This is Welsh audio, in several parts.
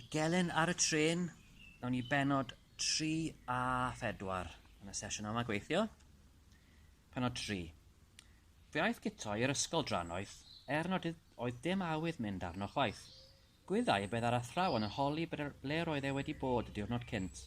Y gelyn ar y trên, nawn ni benod 3 a 4 yn y sesiwn yma gweithio. Penod 3. Fe aeth Guto i'r ysgol drannoeth, er nad oedd dim awydd mynd arno chwaith. Gwyddai beth ar athrawon yn holi ble roedd e wedi bod y diwrnod cynt.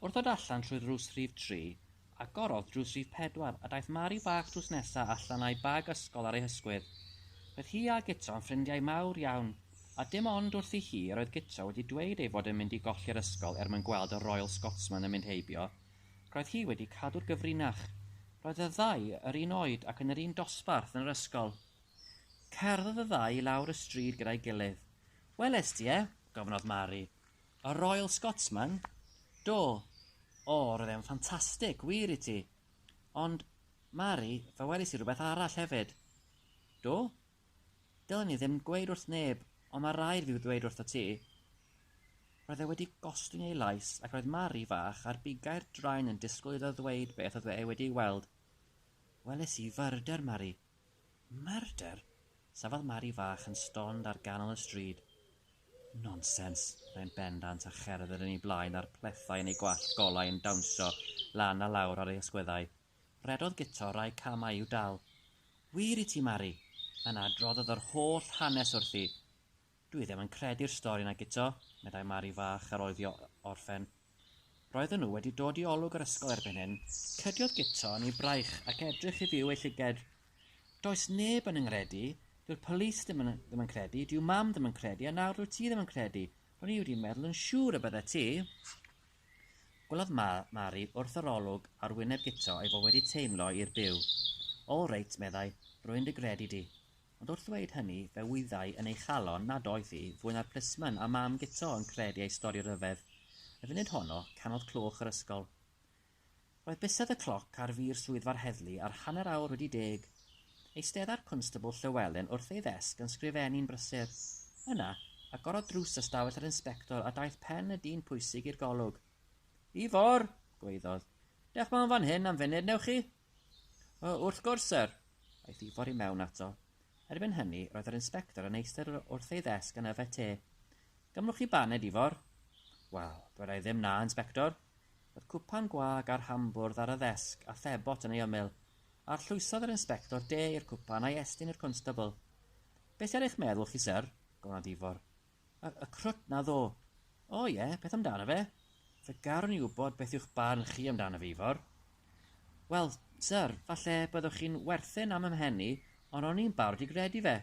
Wrth ddod allan trwy ddrws rhif 3, Agorodd drws rhif pedwar, a daeth Mari bach drws nesa allan â'i bag ysgol ar ei hysgwydd. Roedd hi a Guto yn ffrindiau mawr iawn, a dim ond wrthi hi yr oedd Guto wedi dweud ei fod yn mynd i golli'r ysgol er mwyn gweld y Royal Scotsman yn mynd heibio. Roedd hi wedi cadw'r gyfrinach. Roedd y ddau yr un oed ac yn yr un dosbarth yn yr ysgol. Cerddodd y ddau i lawr y stryd gyda'i gilydd. Welest ti e? gofynnodd Mari. Y Royal Scotsman? Do! O, roedd e'n ffantastig, wir i ti! Ond, Mari, fe welis i rhywbeth arall hefyd. Do? Dylen i ddim gweud wrth neb, ond mae rhaid fi ddweud wrtho ti. Roedd e wedi gostwng ei lais ac roedd Mari fach ar bigau'r draen yn disgwyl iddo ddweud beth oedd e wedi'i weld. Welis i fyrder, Mari. Murder? Safodd Mari fach yn stond ar ganol y stryd. Nonsens! meddai yn bendant a cherdded yn ei blaen a'r plethau yn ei gwallt golau yn dawnsio lan a lawr ar ei ysgwyddau. Rhedodd guto rai camau i'w dal. Wir i ti, Mari! Yna adroddodd yr holl hanes wrthi. Dwi ddim yn credu'r stori 'na guto, meddai Mari fach ar ôl iddi orffen. Roedden nhw wedi dod i olwg yr ysgol erbyn hyn. Cydiodd Guto yn ei braich ac edrych i fyw ei llyged. Does neb yn 'y nghredu, dyw'r polis ddim yn ddim yn credu, dyw mam ddim yn credu a nawr dwyt ti ddim yn credu, ro'n i wedi meddwl yn siŵr y byddet ti. Gwelodd Ma Mari wrth yr olwg ar wyneb Guto ei fod wedi teimlo i'r byw. All reit, meddai, rwy'n dy gredu di. Ond wrth ddweud hynny, fe wyddai yn ei chalon nad oedd hi, fwy na'r plismon a Mam Guto, yn credu ei stori ryfedd. Y funud honno, canodd cloch yr ysgol. Roedd bysedd y cloc ar fur swyddfa'r heddlu ar hanner awr wedi deg. Eisteddai'r Cwnstabl Llewelyn wrth ei ddesg yn sgrifennu'n brysur. Yna, agorodd drws ystafell yr Inspector a daeth pen y dyn pwysig i'r golwg. Ifor! gwaeddodd. Dewch mewn fan hyn am funud, newch chi? O, wrth gwrs, syr! Aeth Ifor i mewn ato. Erbyn hynny, roedd yr inspector yn eistedd wrth ei ddesg yn yfed te. Gymrwch chi baned, Ifor? Wel, dweda i ddim na, inspector. Roedd cwpan gwag a'r hambwrdd ar y ddesg a phebot yn ei ymyl. Arllwysodd yr inspector de i'r cwpan a'i estyn i'r constabl. Be sy ar eich meddwl chi, syr? gofynnodd Ifor. Y, y crwt 'na ddo. O ie, beth amdano fe? Fe garwn i wybod beth yw'ch barn chi amdano fe, Ifor. Wel, syr, falle byddwch chi'n werthin am ymhen ond ro'n i'n barod i gredu fe.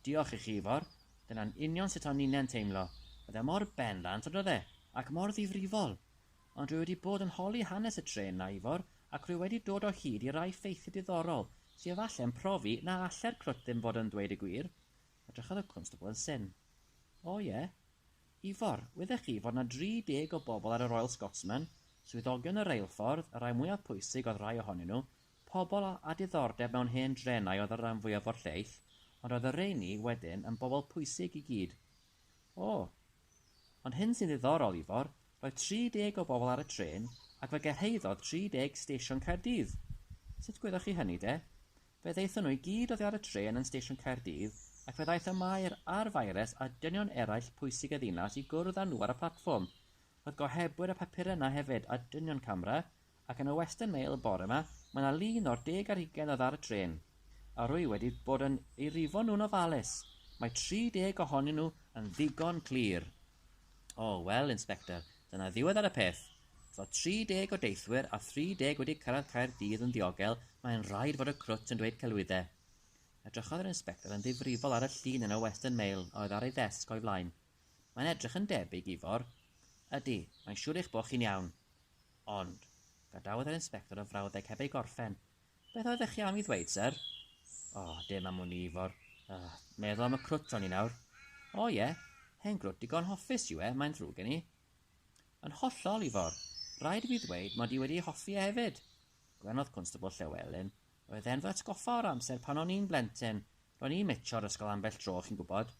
Diolch i chi, Ifor. Dyna'n union sut o'n i'n teimlo. Oedd e mor bendant, on'd oedd e? Ac mor ddifrifol. Ond rwy wedi bod yn holi hanes y trên 'na, Ifor, ac rwy wedi dod o hyd i rai ffeithiau diddorol, sy efalle'n profi na alle'r crwt ddim fod yn ddweud y gwir. Edrychodd y constable yn syn. O, ie. Ifor, wydech chi fod 'na dri deg o bobl ar y Royal Scotsman, swyddogion y reilffordd, y rhai mwyaf pwysig oedd rhai ohonyn nhw, pobl â diddordeb mewn hen drenau oedd y ran fwyaf o'r lleill, ond oedd y rheini wedyn yn bobl pwysig i gyd. O! Ond hyn sy'n ddiddorol, Ifor, roedd tri deg o bobl ar y trên, ac fe gyrhaeddodd tri deg stesion Caerdydd! Sut gwyddoch chi hynny, de? Fe ddaethon nhw i gyd oddi ar y trên yn Stesion Caerdydd ac fe ddaeth y Maer a'r Faeres a dynion eraill pwysig y ddinas i gwrdd â nhw ar y platfform. Roedd gohebwyr y papurau yna hefyd a dynion camera ac yn y Western Mail y bore yma mae yna lun o'r deg ar hugain oedd ar y trên a rwy wedi bod yn eu rifo nhw'n ofalus. Mae 30 ohonyn nhw yn ddigon clir. O, wel, Inspector, Dyna ddiwedd ar y peth. Tra 30 o deithwyr a 30 wedi cyrraedd Caerdydd yn ddiogel, mae'n rhaid fod y crwt yn dweud celwyddau. Edrychodd yr inspector yn ddifrifol ar y llun yn y Western Mail a oedd ar ei ddesg o'i flaen. Mae'n edrych yn debyg, Ifor. Ydy, mae'n siŵr eich bod chi'n iawn. Ond, gadawodd yr inspector y frawddeg heb ei gorffen, Beth oeddech chi am i ddweud, syr? O, oh, dim am wn i, Ifor. Uh, meddwl am y crwt o'n i nawr. O oh, ie, yeah. hen grwt digon hoffus yw e, mae'n ddrwg gen i. Yn hollol, Ifor. Rhaid i fi ddweud mod i wedi hoffi e hefyd. Gwenodd Constable Llewelyn. Roedd e'n fy atgoffa o'r amser pan o'n i'n blentyn, Ro'n i'n metro'r ysgol ambell dro, chi'n gwybod.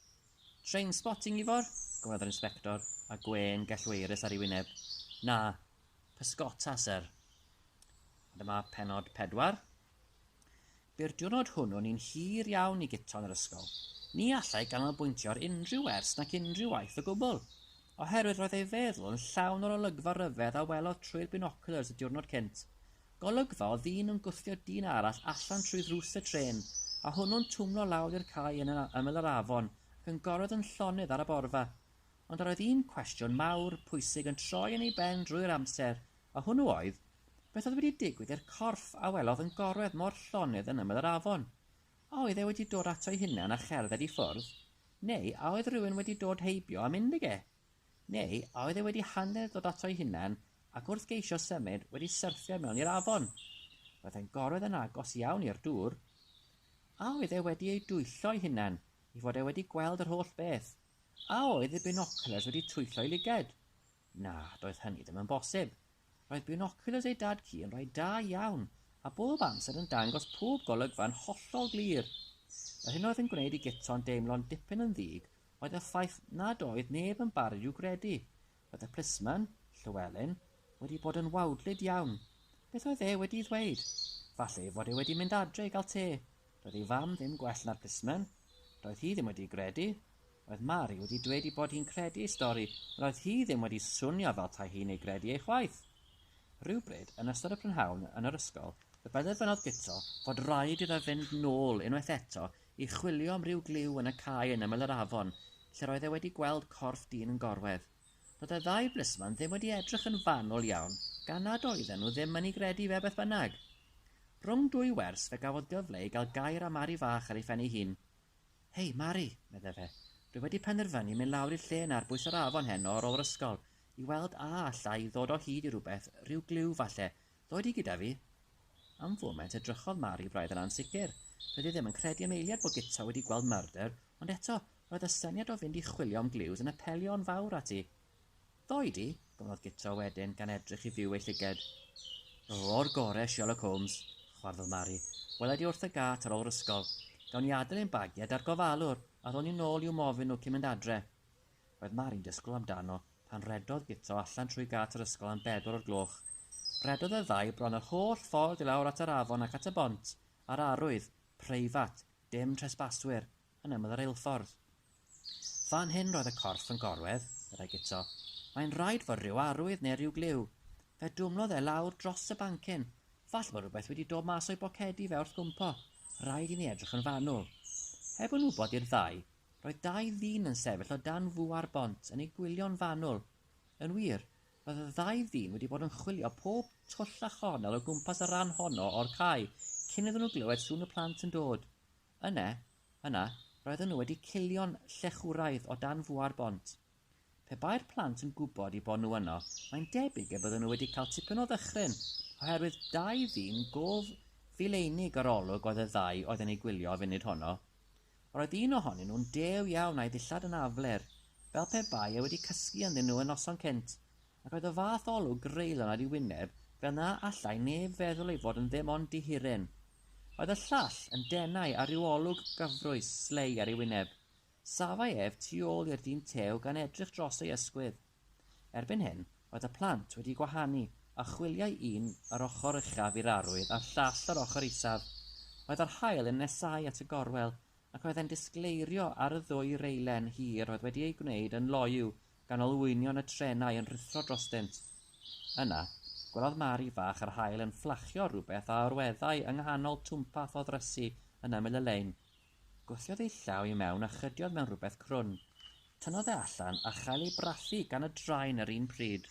Trainspotting, Ifor? gofynnodd yr inspector, â gwên gellweirus ar ei wyneb. Na. Pysgota, syr. A dyma pennod pedwar. Bu'r diwrnod hwnnw'n un hir iawn i Guto'n yr ysgol. Ni allai ganolbwyntio ar unrhyw wers nac unrhyw waith o gwbl, oherwydd roedd ei feddwl yn llawn o'r olygfa ryfedd a welodd trwy'r binoculars y diwrnod cynt, Golygfa o ddyn yn gwthio dyn arall allan trwy ddrws y trên, a hwnnw'n twmlo lawr i'r cae yn ymyl yr afon ac yn gorwedd yn llonydd ar y borfa. Ond yr oedd un cwestiwn mawr, pwysig yn troi yn ei ben drwy'r amser, a hwnnw oedd, beth oedd wedi digwydd i'r corff a welodd yn gorwedd mor llonydd yn ymyl yr afon? A oedd e wedi dod ato'i hunan a cherdded i ffwrdd, neu a oedd rhywun wedi dod heibio a mynd ag e? Neu a oedd e wedi hanner dod ato'i hunan ac wrth geisio symud wedi syrthio mewn i'r afon? Roedd e'n gorwedd yn agos iawn i'r dŵr. A oedd e wedi ei dwyllo'i hunan i fod e wedi gweld yr holl beth? A oedd ei binoculars wedi twyllo'i lyged? Na, doedd hynny ddim yn bosib. Roedd binoculars ei dad ci yn rhai da iawn a bob amser yn dangos pob golygfa'n hollol glir. Yr hyn oedd yn gwneud i Guto'n deimlo'n dipyn yn ddig oedd y ffaith nad oedd neb yn barod i'w gredu. Roedd y plismon, Llewelyn, wedi bod yn wawdlyd iawn. Beth oedd e wedi'i ddweud? Falle ei fod e wedi mynd adre i gael te. Doedd ei fam ddim gwell na'r plismon. Doedd hi ddim wedi'i gredu. Roedd Mari wedi dweud ei bod hi'n credu ei stori, ond oedd hi ddim wedi swnio fel 'tai hi'n ei gredu e chwaith. Rhywbryd yn ystod y prynhawn yn yr ysgol, fe benderfynodd Guto fod raid iddo fynd nôl unwaith eto i chwilio am ryw gliw yn y cae yn ymyl yr afon, lle roedd e wedi gweld corff dyn yn gorwedd. Doedd y ddau blisman ddim wedi edrych yn fanwl iawn, gan nad oedden nhw ddim yn ei gredu fe beth bynnag. Rhwng dwy wers fe gafodd gyfle i gael gair â Mari fach ar ei phen ei hun. Hei, Mari, medde fe, dwi wedi penderfynu mynd lawr i'r lle 'na ar bwys yr afon heno ar ôl yr ysgol, i weld a alla i ddod o hyd i rywbeth, ryw gliw, falle, Ddoi di gyda fi? Am foment edrychodd Mari braidd yn ansicr. Doedd hi ddim yn credu am eiliad bod Guto wedi gweld murder, ond eto, roedd y syniad o fynd i chwilio am glues yn apelio yn fawr at hi. Ddoi di? gofynnodd Guto wedyn, gan edrych i fyw ei llyged. O'r gore, Sherlock Holmes, chwarddodd Mari. Wela di wrth y gât ar ôl yr ysgol. Gawn ni adael ein bagiau da'r gofalwr, a ddo ni'n ôl i'w mofyn nhw cyn mynd adre. Roedd Mari'n disgwyl amdano pan redodd Guto allan trwy gât yr ysgol am bedwar o'r gloch. Rhedodd y ddau bron yr holl ffordd i lawr at yr afon ac at y bont, a'r arwydd, Preifat, dim tresbaswyr, yn ymyl y reilffordd. Fan hyn roedd y corff yn gorwedd, meddai Guto. Mae'n rhaid fod rhyw arwydd neu ryw gliw. Fe dwmlodd e lawr dros y bancyn. Falle bod rhywbeth wedi dod mas o'i bocedi fe wrth gwmpo. Rhaid i ni edrych yn fanwl. Heb yn wybod i'r ddau, Roedd dau ddyn yn sefyll o dan fŵar bont yn eu gwylio'n fanwl. Yn wir, roedd y ddau ddyn wedi bod yn chwilio pob twll a chornel o gwmpas y rhan honno o'r cae cyn iddyn nhw glywed sŵn y plant yn dod. Yne, yna, roedden nhw wedi cilio'n llechwraidd o dan fŵar bont. Pe bai'r plant yn gwybod eu bod nhw yno, mae'n debyg y bydden nhw wedi cael tipyn o ddychryn, oherwydd dau ddyn go fil-einig yr olwg oedd y ddau oedd yn eu gwylio y funud honno. Roedd un ohonyn nhw'n dew iawn a'i ddillad yn afler, fel pe bai e wedi cysgu ynddyn nhw y noson cynt, ac oedd y fath olwg greulon ar ei wyneb fel na allai neb feddwl ei fod yn ddim ond dihuren. Oedd y llall yn denau a rhyw olwg gyfrwys, slei, ar ei wyneb. Safai ef tu ôl i'r dyn tew gan edrych dros ei ysgwydd. Erbyn hyn, roedd y plant wedi gwahanu, a chwiliai un yr ochr uchaf i'r arwydd a'r llall yr ochr isaf. Roedd yr haul yn nesáu at y gorwel, ac roedd e'n disgleirio ar y ddwy reilen hir oedd wedi eu gwneud yn loyw gan olwynion y trenau yn rhuthro drostynt. Yna, gwelodd Mari fach yr haul yn fflachio rhywbeth a orweddai yng nghanol twmpath o ddrysu yn ymyl y lein. Gwthiodd ei llaw i mewn a chydiodd mewn rhywbeth crwn. Tynnodd e allan a chael ei brathu gan y drain yr un pryd.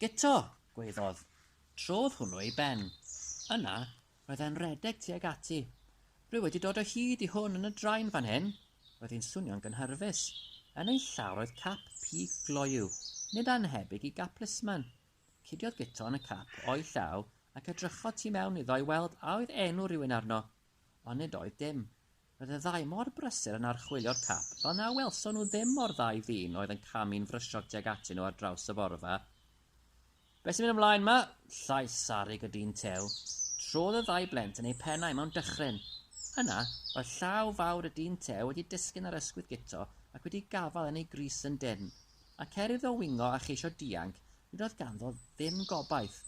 Guto! gwaeddodd. Trodd hwnnw ei ben. Yna, roedd e'n redeg tuag ati. Rwy wedi dod o hyd i hwn yn y drain fan hyn! Roedd hi'n swnio'n gynhyrfus. Yn ei llaw roedd cap pig gloyw, nid annhebyg i gap Lisman. Cudiodd Guto'n y cap o'i llaw ac edrychodd tu mewn iddo i weld a oedd enw rhywun arno, ond nid oedd dim. Roedd y ddau mor brysur yn archwilio'r cap fel na welson nhw ddim mo'r ddau ddyn oedd yn camu'n frysog tuag atyn nhw ar draws y borfa. Be sy'n mynd ymlaen ma? Llais sarug y dyn tew. Trodd y ddau blent yn eu pennau mewn dychryn. Yna, roedd llaw fawr y dyn tew wedi disgyn ar ysgwydd Guto ac wedi gafael yn ei grys yn dynn. Ac er iddo wingo a cheisio dianc, nid oedd ganddo ddim gobaith.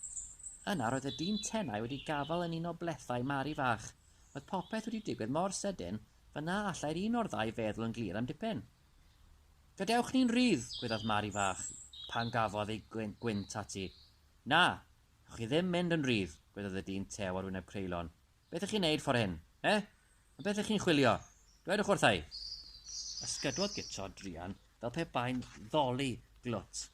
Yna roedd y dyn tenau wedi gafael yn un o blethau Mari fach. Oedd popeth wedi digwydd mor sydyn, fel na allai'r un o'r ddau feddwl yn glir am dipyn. Gadewch ni'n rhydd! gwyddaf Mari fach, pan gafodd ei gwynt ati. Na! Ewch chi ddim mynd yn rhydd! gwyddaf y dyn tew ar wyneb creulon. Beth ych chi'n neud fore hyn? Eh? Am beth ych chi'n chwilio? Dwedwch wrtha i! Ysgydwodd guto druan fel pe bai'n ddoli glwt.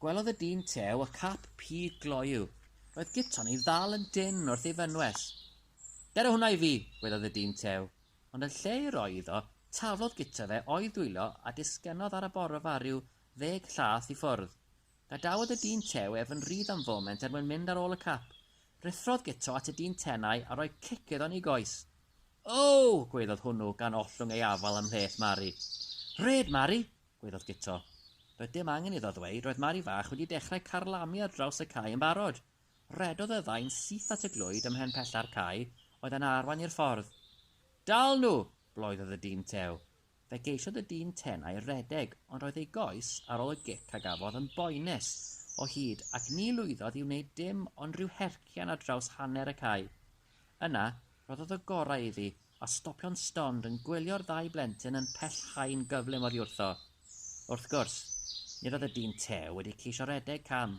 Gwelodd y dyn tew y cap pig gloyw. Roedd guto'n ei ddal yn dynn wrth ei fynwes. Dera hwnna i fi! gwelodd y dyn tew, ond yn lle ei roi iddo, taflodd guto fe o'i ddwylo a disgynnodd ar y borfa rhyw ddeg llath i ffwrdd. Gadawodd y dyn tew ef yn rydd am foment er mwyn mynd ar ôl y cap. Ruthrodd Guto at y dyn tenau a rhoi cic iddo yn ei goes. Oww! gwaeddodd hwnnw gan ollwng ei afal ymhleth Mari. Rhed, Mari! gwaeddodd Guto. Doedd dim angen iddo ddweud, roedd Mari fach wedi dechrau carlamu ar draws y cae yn barod. Rhedodd y ddau'n syth at y glwyd ym mhen pella'r cae oedd yn arwain i'r ffordd. Dal nhw! bloeddodd y dyn tew. Fe geisiodd y dyn Ten a'i redeg ond roedd ei goes ar ôl y gic a gafodd yn boenus o hyd ac ni lwyddodd i wneud dim ond rhyw hercian ar draws hanner y cae. Yna, rhoddodd y gorau iddi a stopio'n stond yn gwylio'r ddau blentyn yn pellhau'n gyflym oddiwrtho. Wrth gwrs, nid oedd y dyn Te wedi ceisio redeg cam.